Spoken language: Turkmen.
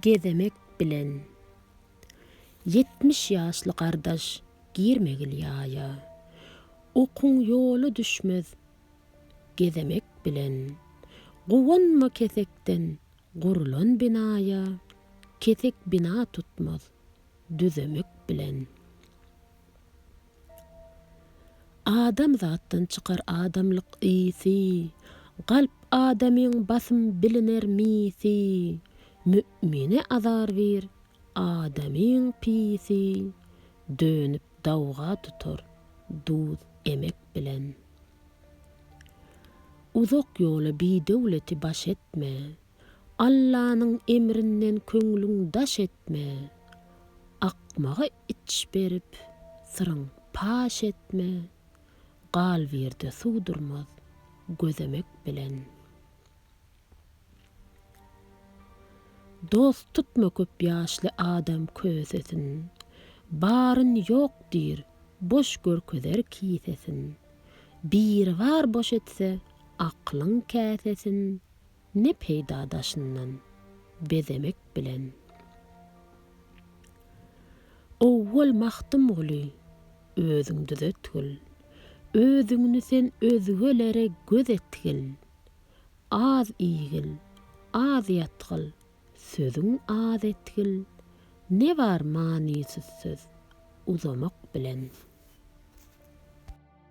gezemek bilen. Ýetmiş ýaşly gardaş girmegil ýaýa. Okuň ýola düşmez gezemek bilen. Guwanma kesekden gurlan binaýa, kesek bina tutmaz düzemek bilen. Adam zatdan çykar adamlyk ysy, Galp adamyň basym biliner misy, Mü'mine azar bir adamyň pisi, Dönüp dawga tutar duz emek bilen. Uzak ýola bidöwleti baş etme, Allanyň emrinden köňlüň daş etme, Akmaga iç berip, syryň paş etme, Gal bu ýerde suw durmaz, gözemek bilen. Dost tutma köp ýaşly adam kösesin, Baryn ýok diýr, boş görkezer kisesin, Biribar boş etse, aklyň käsesin, Ne peýda daşyndan bezemek bilen. Owwal Magtymguly özüň düzetgil, Özüňni sen özgelere göz etgil. Az iýgil, az ýatgil, sözüň az etgil, Ne bar manysyz söz uzamak bilen.